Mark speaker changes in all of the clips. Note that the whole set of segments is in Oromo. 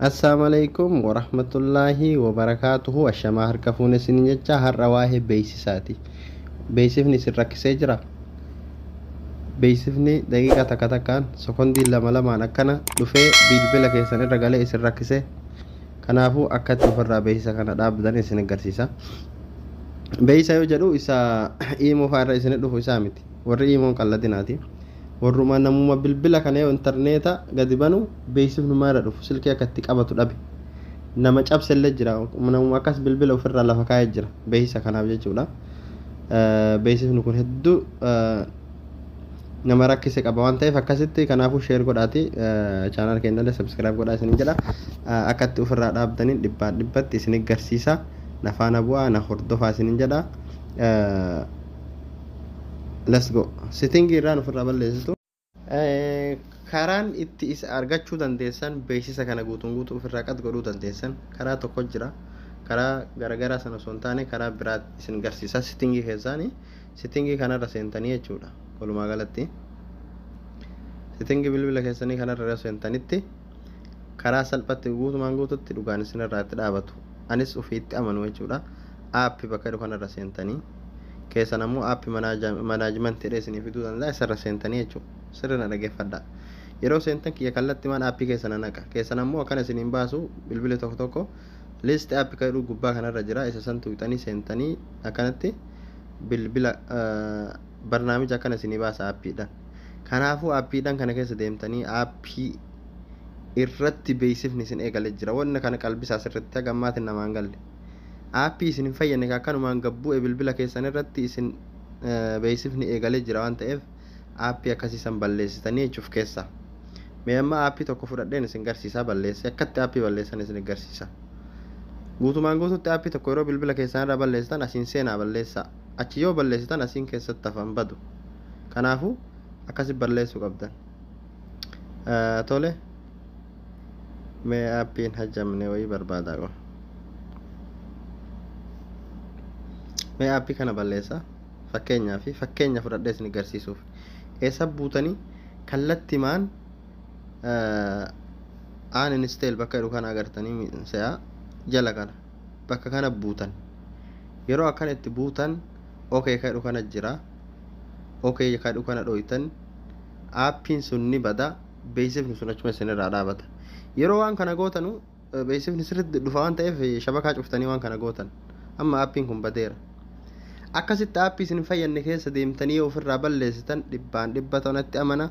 Speaker 1: Assalamu alaikum wa rahmatullahi wa barakatuhu ashamaa harka fuune isin jecha har'a waa'ee beeksisaati. Beeksifni isin rakkisee jira. Beeksifni daqiiqaa takka takkaan sekondii lama lamaan akkana dhufee bilbila keessan irra galee isin rakkisee. Kanaafuu akka itti ofirraa beeksisa kana dhaabdan isin agarsiisa. Beeksisa yoo jedhu isa iimoo fa'aa irra isin dhufu isaa miti. warri iimoon qalladinaati warruma namuma bilbila kana yoo intarneeta gadi banu beeksifni maara dhufu silkii akka itti qabatu dhabe nama cabsellee jira namuma akkas bilbila ofirraa lafa kaa'ee jira beeksisa kanaaf jechuudha beeksifni kun hedduu nama rakkise qaba waan ta'eef akkasitti kanaafuu sheer godhaati chaanaal keenyallee sabskiraayib godhaa isinin jedha akkatti ofirraa dhaabdaniin dhibbaa dhibbatti isin garsiisa nafaana bu'aa na hordofaa isinin jedha let's go sitting irraan ofirraa balleessitu karaan itti isa argachuu dandeessan beeksisa kana guutuun guutuu ofirraa qad godhuu dandeessan karaa tokko jira karaa garagaraa sana osoo hin taane karaa biraa isin garsiisa sittingii keessaanii sittingii kanarra seentanii jechuudha walumaa galatti sittingii bilbila keessanii kanarra seentanitti karaa salphatti guutumaan guututti dhugaan isinirraa itti dhaabatu anis ofii itti amanu jechuudha app bakka jedhu kanarra seentanii keessan ammoo app manaajimantidha isinii fiduu danda'a isarra seentanii jechuudha sirri na dhageeffadha yeroo seentan kiyya kallatti maan app keessa na naqa keessan ammoo akkana isiniin baasu bilbili tokko tokko list app kan jedhu gubbaa kanarra jira isa san tuqxanii seentanii akkanatti bilbila barnaamija akkana isinii baasa appiidhaan Kanaafuu aappiidhaan kana keessa deemtanii aappii irratti beeksifni isin eegale jira. Wanna kana qalbisaa sirritti haga ammaati namaan galle. Aappii isin hin fayyadne ka akkanumaan gad bu'e bilbila keessan irratti isin beeksifni eegale jira waan ta'eef aappii akkasii san balleessitanii jechuun of keessa. Mee amma aappii tokko fudhadheen isin garsiisaa balleesse akkatti aappii balleessan isin garsiisa. Guutumaan guututti aappii tokko yeroo bilbila keessan irraa balleessitan asiin seenaa balleessaa. Achi yoo balleessitan asiin keessatti hafan badu. Kanaafu akkasi balleessu qabdan. Tole mee appii hin hajjamne wayii barbaada qo. Mee appii kana balleessa. Fakkeenyaa fi fakkeenya fudhadhee isin garsiisuuf. Eessa buutanii kallattimaan aan insteel bakka jedhu kana agartanii se'aa jala kana. bakka kana buutan yeroo akkana itti buutan ok kadhu kana jira ok kadhu kana dhoytan aappiin sun ni bada beeksifni sun achuma isin irraa dhaabata yeroo waan kana gootanu beeksifni sirriitti dhufa waan ta'eef shabakaa cuftanii waan kana gootan amma aappiin kun badeera akkasitti aappii isin hin fayyadne keessa deemtanii yoo ofirraa balleessitan dhibbaan dhibba ta'u natti amana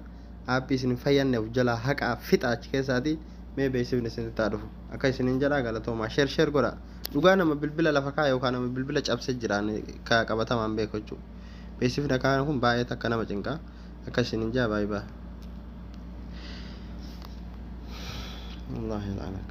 Speaker 1: app isin hin fayyanne of jalaa haqaa fixa achi keessaati mee beeksifni isinitti haa dhufu akka isinin jedha galatoomaa share share godha dhugaa nama bilbila lafa kaa yookaan nama bilbila cabse jiraan ka qabatamaan beeku jechuu beeksifni akka kana kun baay'ee takka nama cinqaa akka isinin jaa baay'ee baa Allah ilanak.